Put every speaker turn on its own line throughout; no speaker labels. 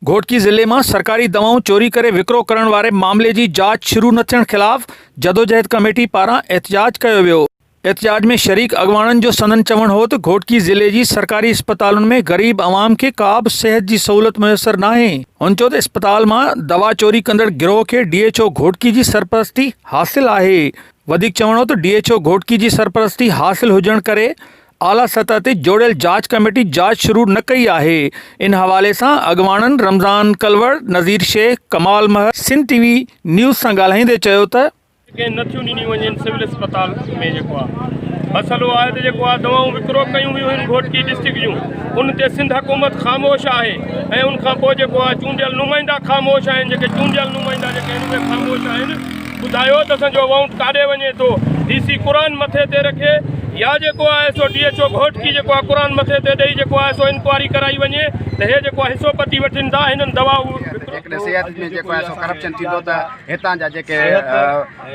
گهوٽڪي ضلعي مان سرڪاري دوائون چوري ڪري وڪرو ڪرڻ واري معاملي جي جاچ شروع نه ٿيڻ خلاف جدوجهد ڪميٽي پاران احتجاج ڪيو ويو، احتجاج ۾ شريڪ اڳواڻن جو سندن چوڻ هو ته گهوٽڪي ضلعي جي سرڪاري اسپتالن ۾ غريب عوام کي ڪابه صحت جي سهولت ميسر ناهي، هن چيو ته اسپتال مان دوا چوري ڪندڙ گروهه کي ڊي ايڇ او گهوٽڪي جي سرپرستي حاصل آهي، وڌيڪ چوڻ هو ته ڊي ايڇ او گهوٽڪي جي سرپرستي حاصل هجڻ ڪري اعليٰ سطح تي جوڙيل جاچ ڪميٽي جاچ شروع نه ڪئي آهي ان حوالي سان اڳواڻن Ramzan Kalor, Nazir Shaikh, Kamal Mahar Sindh T V news سان ڳالهائيندي چيو ته. ڪين نه ٿيون ڏنيون
وڃين سول اسپتال ۾ جيڪو آ مسئلو آهي ته جيڪو آ دوائون وڪرو ڪيون ويون آهن گهوٽڪي ڊسٽرڪٽ جون ان تي سنڌ حڪومت خاموش آهي ۽ ان کان پوء جيڪو آ چونڊيل نمائندا خاموش آهن جيڪي چونڊيل نمائندا جيڪي آهن اهي خاموش آهن. ٻڌايو ته اسان جو اوائونٽ ڪاڏي وڃي ٿو ڊي سي قرآن مٿي تي رکي يا جيڪو آهي سو ڊي ايڇ او گهوٽڪي جيڪو آهي قرآن مٿي تي ڏئي جيڪو آهي سو انڪوائري ڪرائي وڃي ته هي جيڪو آهي حصو پتي وٺن ٿا هنن دوا جيڪڏهن صحت ۾
جيڪو آهي سو ڪرپشن ٿيندو ته هتان جا جيڪي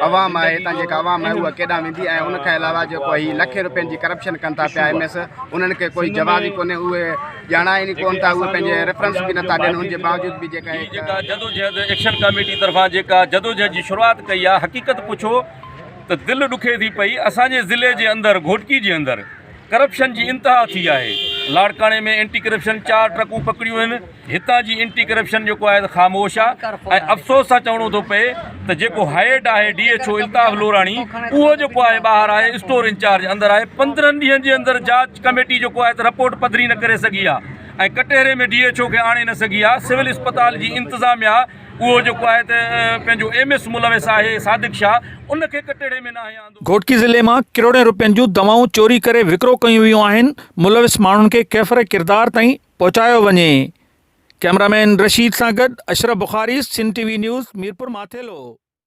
عوام آهي هتان جيڪا عوام آهي اها ڪيڏانهن ويندي ۽ ان کان علاوه جيڪو هي لکين روپين جي ڪرپشن ڪن ٿا پيا ايم ايس انهن کي ڪوئي جواز ئي ڪونهي اهي ڄاڻائين ئي ڪونه ٿا، اهي پنهنجي ريفرنس به نٿا ڏين، ان جي باوجود به جيڪا هي جيڪا جدوجهد ايڪشن
ڪاميٽي طرفان جيڪا جدوجهد جي شروعات ڪئي آهي حقيقت پڇو ته دل ڏکي ٿي پئي اسان جي ضلعي جي اندر گهوٽڪي جي اندر ڪرپشن جي انتها ٿي آهي لاڙڪاڻي ۾ اينٽي ڪرپشن چار ٽرڪون پڪڙيون آهن هتان جي اينٽي ڪرپشن جيڪو آهي خاموش آهي ۽ افسوس سان چوڻو ٿو پئي ته جيڪو هيڊ آهي D H O Altaf Lorani اهو جيڪو آهي ٻاهر آهي اسٽور انچارج اندر آهي پندرهن ڏينهن جي اندر جاچ ڪميٽي جيڪو آهي ته رپورٽ پڌري نه ڪري سگهي آهي ۽ ڪٽهري ۾ ڊي ايڇ او کي آڻي نه سگهي آهي سول اسپتال جي انتظاميا اهو جيڪو آهي ته پنهنجو ايم ايس ملوث آهي صادق شاهه ان کي ڪٽهري ۾ ناهي آندو گهوٽڪي ضلعي مان
ڪروڙين رپين جون دوائون چوري ڪري وڪرو ڪيون ويون آهن ملوث ماڻهن کي ڪيفر ڪردار تائين پهچايو وڃي. ڪئميرا مين رشيد سان گڏ Ashraf Bukhari Sindh T V news Mirpur Mathelo.